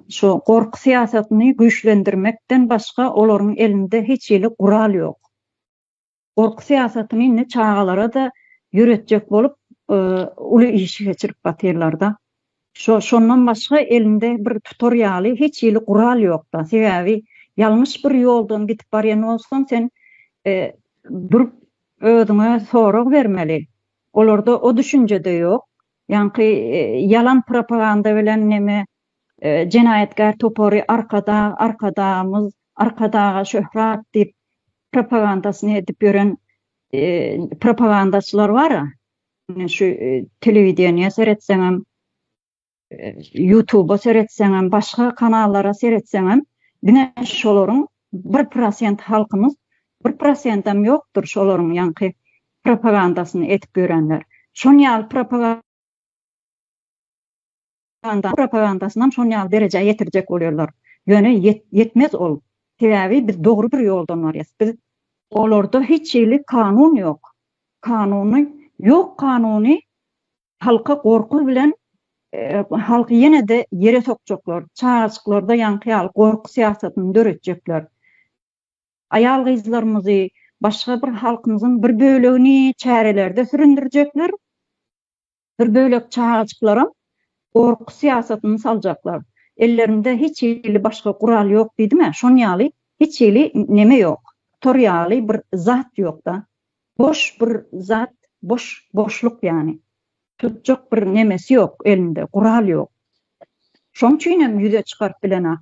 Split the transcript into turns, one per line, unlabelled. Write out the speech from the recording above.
Şu gorky syýasatyny güýçlendirmekden başga olaryň elinde hiç hili gural ýok. Gorky syýasatyny indi çagalara-da ýöretjek bolup uly işi geçirip batyrlar-da. Şo şondan başga elinde bir tutar ýaly hiç hili gural ýok-da. Sebäbi ýalňyş bir ýoldan gidip barýan bolsaň sen durup özüňe sorag bermeli. Olarda o düşünje-de ýok. Ýaňky ýalan propaganda bilen neme jenaýatkär topary Arkadag, Arkadagymyz, Arkadaga şöhrat diýip propagandasyny edip ýören propagandaçylar bar-a. Ine şu telewideniýe seretseňem, ýutuba seretseňem, başga kanallara seretseňem diňe şolaryň Bir prosent halkymyz bir prosentam ýokdur şolaryň ýaňky propagandasyny edip ýörenler. Şon ýaly propa ganda propagandasynam şon ýaly derejä ýetirjek bolýarlar. Ýöne ýetmez ol. Sebäbi biz dogry bir ýoldan barýas. Biz Olarda hiç hili kanun ýok. Kanuny ýok kanuny Halka gorky bilen halky ýene-de ýere sokjaklar, çagajyklarda ýaňky ýaly gorky syýasatyny döretjekler. Aýal-gyzlarymyzy, başga bir halkymyzyň bir bölegini çärelerde süründirjekler, bir bölek çagajyklaram gorky syýasatyny saljaklar. Ellerinde hiç hili başga gural ýok diýdim-ä, şon ýaly hiç hili neme ýok, tor ýaly bir zat ýok-da. Boş bir zat, boş boşluk ýany. Tutjak bir nemesi ýok elinde, gural ýok. Şoň üçinem ýüze çykaryp bilenok.